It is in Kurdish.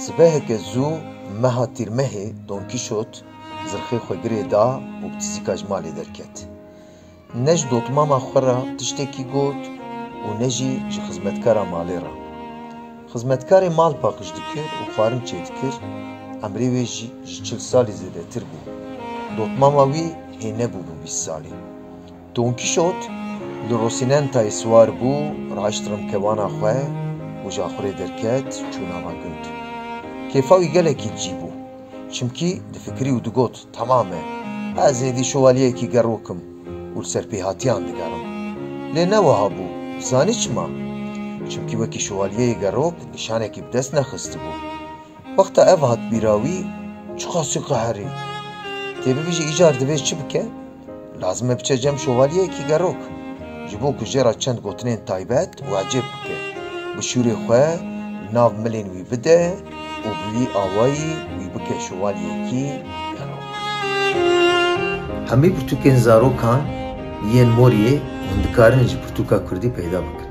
Sibeheke zû meha Tîrmehê Don Kîşot zirxê xwe girê da û bi tizîka ji malê derket. Ne ji dotmama xwe re tiştekî got û ne jî ji xizmetkara malê re. Xizmetkarê mal paqij dikir û xwarin çêdikir, emrê wê jî ji çil salî zêdetir bû. Dotmama wî hê nebûbû bîst salî. Don Kîşot li Rosinentayê siwar bû, raşt rimkevana xwe û ji axurê derket çû nava gund. Kêfa wî gelekî li cî bû. Çimkî difikirî û digot, Temam e, ez êdî şovalyeyekî gerok im û li ser pêhatiyan digerim. Lê ne wiha bû. Zanî çima? Çimkî wekî şovalyeyê gerok nîşanekî bi dest nexistibû. Wexta ev hat bîra wî, çiqasî qeherî. Tê bibêje îcar divê çi bike? Lazim e biçe cem şovalyeyekî gerok, ji bo ku jê re çend gotinên taybet û ecêb bike, bi şûrê xwe li nav milên wî bide û bi vî awayî wî bike şovalyeyekî gerok. Hemî pirtûkên zarokan yên Moriyê hûn dikarin ji pirtûka kurdî peyda bikin.